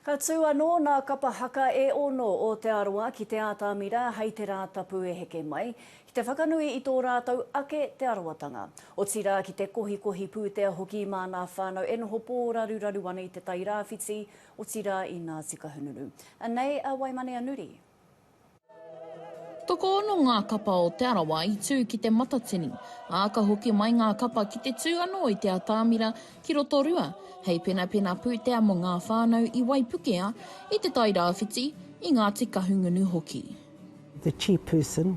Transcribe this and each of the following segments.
Ka tū anō nā kapa haka e ono o Te Arawa ki Te Ātamira hei te Rātapu e heke mai, ki te whakanui i tō rātou ake Te Arawatanga. Otirā ki te kohikohi pūtea hoki mā nā whānau e noho pōraruraru ana i Te Tai Rāwhiti, otirā i Ngāti Kahungunu. Anei a Waimane a Nuri. Tokoono ngā kapa o Te Arawa i tū ki Te Matatini, ā, ka hoki mai ngā kapa ki te tū anō i Te Atāmira ki Rotorua hei penapena pūtea mō ngā whānau i Waipukea, i Te Tai Rāwhiti, i Ngāti Kahungunu hoki. The chairperson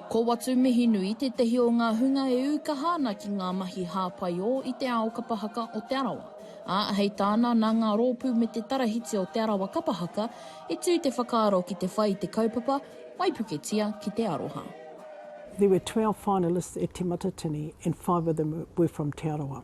Ko Watu Mihinui tētehi o ngā hunga e ū kaha ana ki ngā mahi hāpai ō i te ao kapa haka o Te Arawa, ā, hei tāna nā ngā rōpū me te tarahiti o Te Arawa Kapa Haka i tū te whakaaro ki te whai i te kaupapa Waipuketia ki te Aroha. There were twelve finalists at Te Matatini and five of them were from Te Arawa.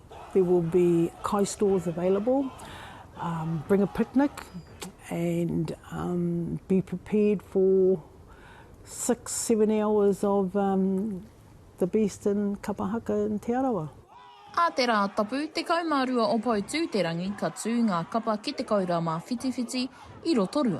There will be kai stores available, bring a picnic and be prepared for six, seven hours of the best in kapa haka in Te Arawa. Ā te rā tapu 12 o Poutūterangi ka tū ngā kapa ki te koura mā Whitiwhiti i Rotorua.